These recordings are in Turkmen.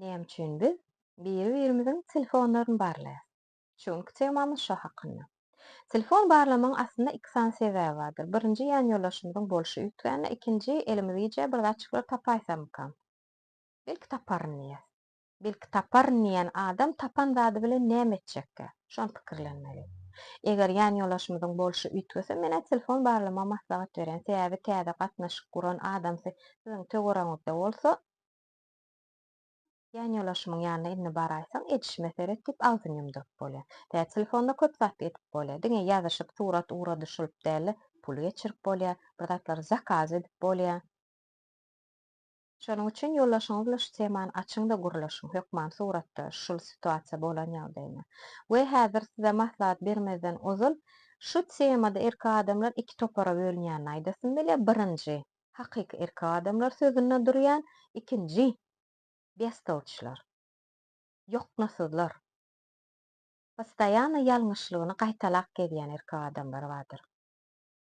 Näme üçin biz biri-birimiziň telefonlaryny barlaýarys? Çunki temamyz şo hakynda. Telefon barlamagyň aslynda iki sany sebäbi bardyr. Birinji ýanýoldaşymyzyň bolşy üýtgände, ikinji elimiz gijä bir zatjyklar tapaýsamykam? Belki taparyn diýýäs. Belki taparyn diýýän adam tapan zady bilen näme etjekkä? Şony pikirlenmeli. Eger ýanýoldaşymyzyň bolşy üýtgese, men-ä telefon barlamagy maslahat berýän, sebäbi täze gatnaşyk guran adamsy siziň töweregiňizde bolsa, Ýanýolaşymyň ýanyna indi baraýsaň, edişime seret diýip agzyny ýumduryp bolýar. Tä telefonda köp zat edip bolýar. Diňe ýazyşyp, surat ura-düşürip däl-de, pul geçirip bolýar, bir zatlary zakaz edip bolýar. Şonuň üçin ýoldaşyňyz bilen şu temany açyň-da gürleşiň, hökman suratda şul situasiýa bolan ýagdaýyna. We häzir size maslahat bermezden ozal, şu temada erkek adamlar iki topara bölünýänini aýdasym gelýär, birinji, hakyky erkek adamlar sözünde durýan ikinji bestowçylar, ýoknasyzlar, postoýano ýalňyşlygyny gaýtalap gezýän erkek adamlar bardyr.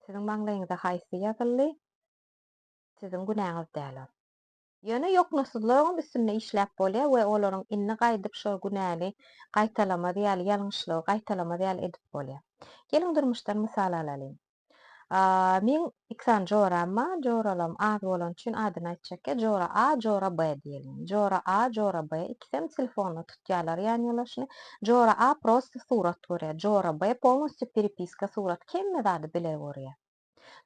Siziň maňlaýyňyza haýsy ýazyldy, siziň günäňiz däl ol. Ýöne ýoknasyzlaryňam üstünde işläp bolýar we olaryň indi gaýdyp şol günäni gaýtalamaz ýaly, ýalňyşlygy gaýtalamaz ýaly edip bolýar. Geliň durmuşdan mysal alalyň. Meň iki sany joram bar, joralarym az bolany üçin adyny aýtjak ýa jora A, jora B diýeliň. Jora A, jora B ikisem telefonda tutýarlar ýan ýolaşyny. Jora A prosta surat görýär, jora B polnostýu peripiska surat hemme zady bile görýär.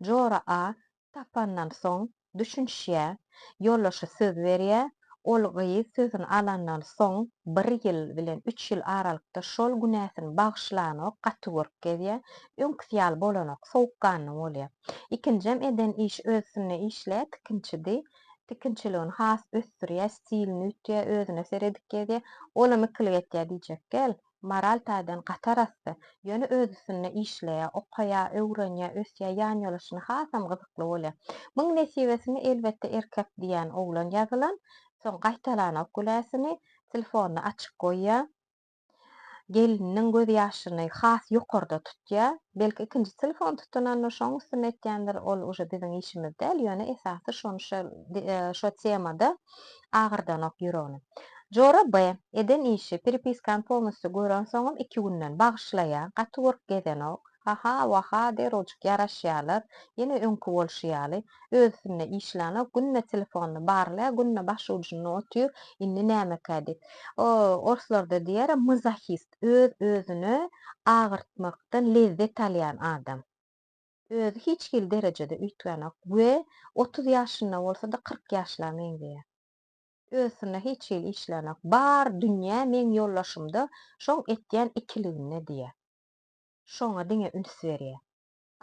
Jora A tapandan soň düşünişýä, ýoldaşy söz berýä, ol gyz sözüni alandan soň bir ýyl bilen üç ýyl aralykda şol günäsini bagyşlanok gaty görüp gezýä, öňküsi ýaly bolanok sowukganly bolýa. Ikinjem eden iş öz üstünde işleýä tikinçidi, tikinçiligini has ösdürýä, stilini ütýä, özüne seredip gezýä, olam ikilik etýä diýjek gel, moral taýdan gaty arassa, ýöne öz üstünde işleýär, okaýar, öwrenýär, ösýär, ýanýoluşyna hasam gyzykly bolýar. Muň nesibesini elbetde erkek diýýän oglan ýazylan, soň gaýtalanok güläsini, telefonyny açyk goýýar, gelniniň göz ýaşyny has ýokarda tutýar, belki ikinji telefon tutunanda şoň üstünde etýändir, ol uje biziň işimiz däl, ýöne esasy şony şo şo temada agyrdanok ýüregini. Jora B. eden işi, pripiskany polnusty görensoňam iki günden bagyşlaýa, gaty görk gezenok, haha, waha, derwjik ýaraşýalar, ýene öňki bolşy ýaly, özüsinde işlänok, günde telefonyny barlaýa, günde başujunda otyr, indi nämekä diýip. O, orslarda diýer, mzahyst, öz, özüne agyrtmakdan lezzet alýan adam. Özi hiç hili derejede üýtgänok we otuz ýaşynda bolsa-da kyrk ýaşla meňzeýär. Özsynda hiç hili işlänok. Bar dünýä meň ýoldaşymda şoň etýän ikiliginde diýýär. Şoňa diňe üns berýär.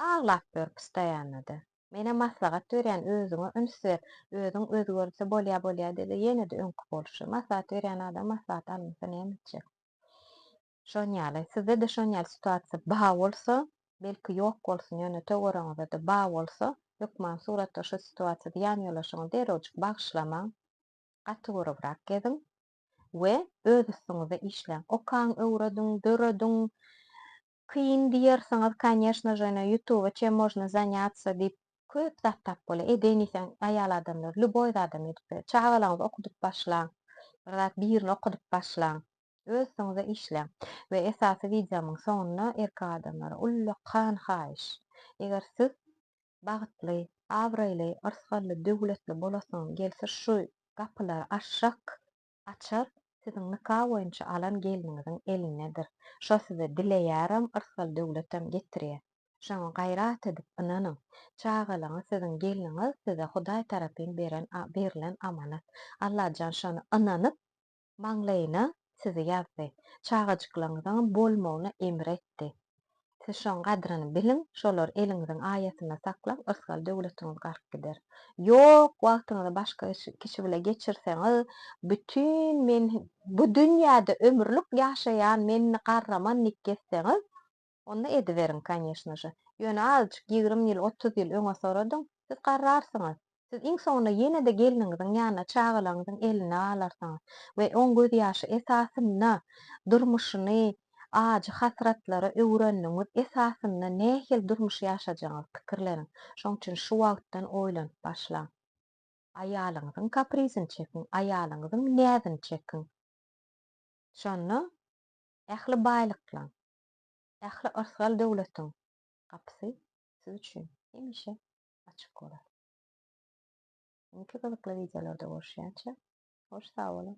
Aglap ýör pstaýanada. Menem maslahat berýän özüňe üns ber, özüň özgerdse bolýa bolýa diýdi ýene-de öňki bolşy. Maslahat berýän adam maslahat almasa näme etjek. Şonýaly, sizde-de şonýaly situasiýa ba bolsa, belki ýok bolsun, ýöne töweregiňizde-de ba bolsa, hökman suratda şo situasiýada ýanýolaşyňy derewjik bagyşlamaň, gaty görübrak geziň we öz üstüňizde işläň. Okaň, öwrediň, dörediň. Kyn diýersiňiz, kanyeshno je, ine ýutube çem mojno zanýatsa diýip köp zat tap bolýar. Edeýin diýseň, aýal adamlar lýuboý zadam edip biler. Çagalaryňyzy okudyp başlaň. Bir zat birini okudyp başlaň. Öz üstüňize işläň. We esasy wideomyň soňunda erkek adamlara ullakan haýyş. Eger siz bagtly, abraýly, yrsgally, döwletli bolasyňyz gelse şu gapylary aşak açar siziň nika boýunça alan gelniňiziň elindedir. Şo size dileýärem yrsgal döwletem getirýä. Şoňa gaýrat edip ynanyň. Çagalaňyz siziň gelniňiz size hudaý tarapyn beren berilen amanat. Allajan şony ynanyp Maňlaýyna sizi ýazdy. Çagajyklaryňyzyň bolmagyna emr etdi. Siz şoň gadryny biliň, şolary eliňiziň aýasynda saklaň, ysgal döwletiňiz garyp gider. Ýok, wagtyňyzy başga kişi bile geçirseňiz, bütin men bu dünýäde ömürlik ýaşaýan men garraman nik gezseňiz, Onda ediberiň, konýeşnaže. Ýöne azajyk ýigrimi ýyl, otuz ýyl öňe soradyň, siz garrarsyňyz. Siz iň soňunda ýene-de gelniňiziň ýanyna çagalaryňyzyň elinde galarsyňyz we oň gözýaşy esasynda durmuşyny ajy hasratlara öwürendigiňiz esasynda nähili durmuş ýaşajagyňyzy pikirleniň. Şoň üçin şu wagtdan oýlanyp başlaň. Aýalyňyzyň kaprizini çekiň, aýalyňyzyň näzini çekiň. Şonda ähli baýlyklaň, Ähli yrsgal döwletiň gapysy siz üçin hemişe açyk bolar. Indiki gyzykly wideolarda görüşýänçä hoş sag boluň.